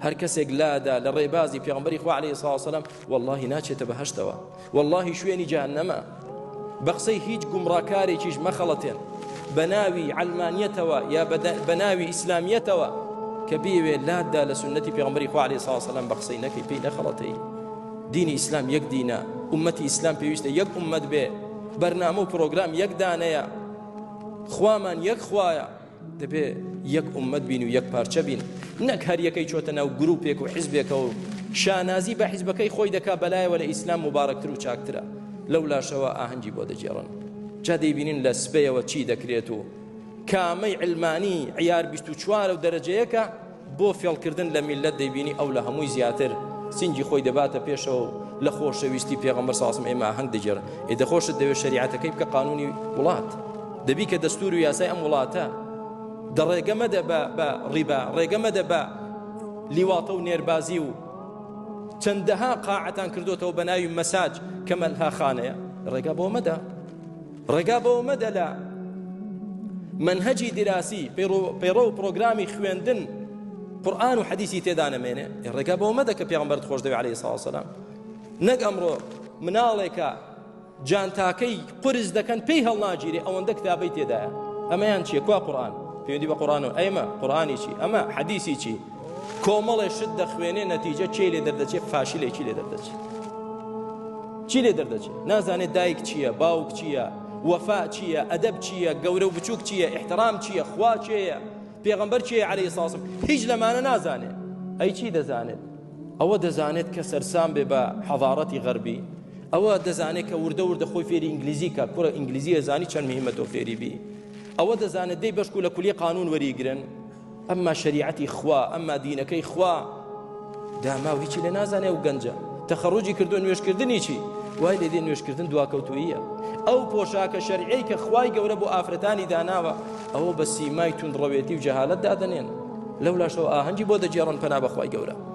هەر کەسێک لادا لە ڕێبازی پێغمبەری خوا عليه سڵاو سلام واللهی ناچێتە بەهشتەوە واللهی شوێنی جانەمە بە قسەی هیچ گومڕاکارێکیش مەخەڵەتێن بە ناوی علمانیەتەوە یا بە ناوی ئیسلامیەتەوە کە بیوێ لادا لە سنەتی پێغمبەری خوا عليه سڵاو سلام بە قسەی نەکەی پێی نەخەڵەتەی دینی ئیسلام یەک دینە ئومەتی ئیسلام پێویستە یەک ئومەت بێ بەرنامە و پرۆگرام یەکدانەیە خوامان یەک خوایە دەبێ یەک ئومەت بین و یەک پارچە بین نەک هەر یەکەی چۆتە ناو گروپێک و حیزبێکەوە و شانازی بە حیزبەکەی خۆی دەکا بەلایەوە لە ئیسلام مبارەکتر و چاکترە لەو لاشەوە ئاهەنگی بۆ دەگێڕن جا دەیبینین لە سبەیەوە چی دەکرێت و کامەی علمانی عیار 24 و دەرەجەیەکە بۆ فێڵکردن لە میللەت دەیبینی ئەو لە هەمووی زیاتر سینگی خۆی دەباتە پێشەوە و لە خۆشەویستی پێغەمبەر ساسم ئێمە ئاهەنگ دەگێڕن ئێ دەخۆشت دەوێت شریعەتەکەی بکە قانونی وڵات دەبی کە دەستور و یاسای ئەم وڵاتە دە ڕێگە مەدە بە بە ڕیبا ڕێگە مەدە بە لیواتە و نێربازی و چەندەها قاعتان کردوتەوە بە ناوی مەساج کە مەلهاخانەیە ڕێگا بۆ مەدە ڕێگا بەوە مەدە لە منهجی دراسی پەیڕە و پرۆگرامی خوێندن قورآن و حەدیسی تێدا نەمێنێ ڕێگا بەوە مەدە کە پێغمبەر خۆش دەوێ عليه ساوسلام نەک ئەمڕۆ مناڵێکە جانتاکەی قرس دەکەن پێی هەڵناگیری ئەوەندە کتابەی تێدایە ئەمەیان چیە کوا قورآن پێوەندی بە قورآن و ئەمە قورآانی چی ئەمە حەدیسی چی کۆمەڵێ شت دەخوێنێ نەتیجە چی لێ دەردەچێت فاشلێکی لێ دەردەچێت چی لێ دەردەچێت نازانێت دایک چییە باوک چییە وەفا چییە ئەدەب چییە گەورە و بچووک چییە احترام چییە خوا چێە پێغمبەر چێ عليه ساسم هیچ لەمانە نازانێت ئەی چی دەزانێت ئەوە دەزانێت کە سەرسام بێ بە حەضارەتی غەربی ئەوە دەزانێت کە وردە وردە خۆی فێری ئینگلیزی کە کوڕە ئینگلیزیە زانی چەند مهمەتۆ فێری بی ئەوە دەزانێت دەی بەشکو لە کولی قانون وەریگرن ئەمما شەریعەتی خوا ئەمما دینەکەی خوا داماو هیچی لێ نازانێ و گەنجە تەخەڕوجی کردو نوێشکردنی چی وای لێ دێ نوێشکردن دواکەوتوییە ئەو پۆشاکە شەرعەی کە خوای گەورە بۆ ئافرەتانی داناوە ئەوە بە سیمای توندڕەوێتی و جەهالت دادەنێن لەولاشەوە ئاهەنگی بۆ دەگێڕن پەنا بەخوای گەورە